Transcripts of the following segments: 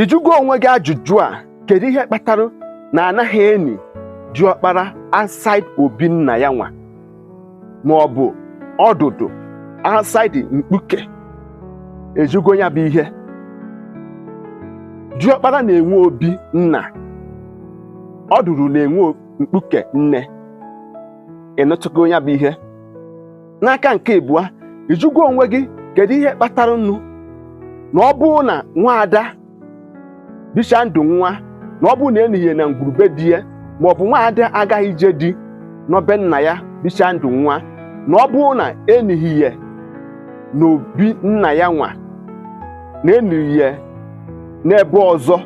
ịjụgo onwe gị ajụjụ a kedu ihe kpatara na anaghị eni diọkpara outside obi nna ya nwa ma ọ bụ ọdụdụ outside mkpuke ịjụgo nya bụ ihe diọkpara na-enwe obi nna ọdụdụ na-enwe mkpuke nne ịnụtụgo nya bụ ihe n'aka nke ịbụa ịjụgo onwe gị kedu ihe kpatara nụ na ọ bụrụ na nwaada bicha ndụ nwa na ọ bụrụ na enihi ye na ngwuru be di ya ma ọ bụ nwaada agaghị ije di nọ be nna ya bicha ndụ nwa na ọ bụrụ na enihi ye na obi nna ya nwa na enihi ye n'ebe ọzọ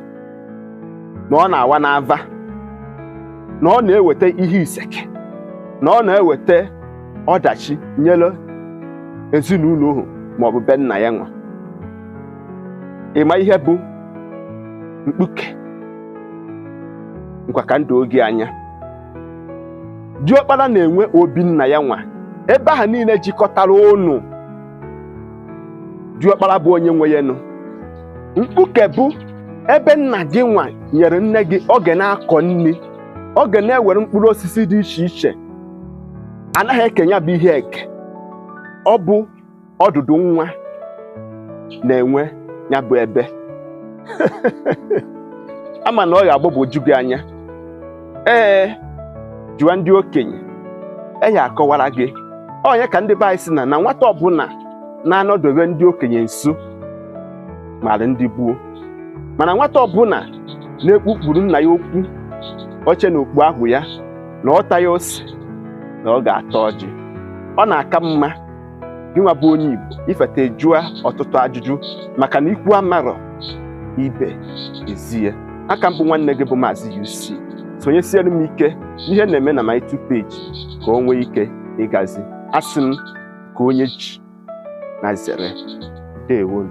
na ọ na-awa n'ava na ọ na-eweta ihe isi ike na ọ na-eweta ọdachi nyere ezinụlọ ahụ maọbụ be nna ya nwa ịma ihe bụ mkpuke ngwa ka m doo gị anya diọkpara na-enwe obi nna ya nwa ebe ahụ niile jikọtara unu diọkpara bụ onye nwe ya nụ mkpuke bụ ebe nna gị nwa nyere nne gị ọ ga na-akọ nri ọ ga na-ewere mkpụrụ osisi dị iche iche anaghị eke nya bụ ihe eke ọ bụ ọdụdụ nwa na-enwe nya bụ ebe ama m na ọ ga-agbagwoju gị anya ee jụọ ndị okenye ha akọwara gị ọ nya ka ndị be anyị sị na na nwata ọbụla na-anọdobe ndị okenye nso mara ndị gboo mana nwata ọbụla na-ekpukpuru nna ya okpu oche na okpu agụ ya na ọ taghị ose na ọ ga-ata ọjị ọ na-aka mma gịnwa bụ onye Igbo ifeta ị jụa ọtụtụ ajụjụ maka na ikwu amarọ ibe ezi ye aka m bụ nwanne gị bụ Maazị UC sonyesiere m ike n'ihe na-eme na my two page ka o nwee ike ịgazi asị m ka onye ji na zere deewonụ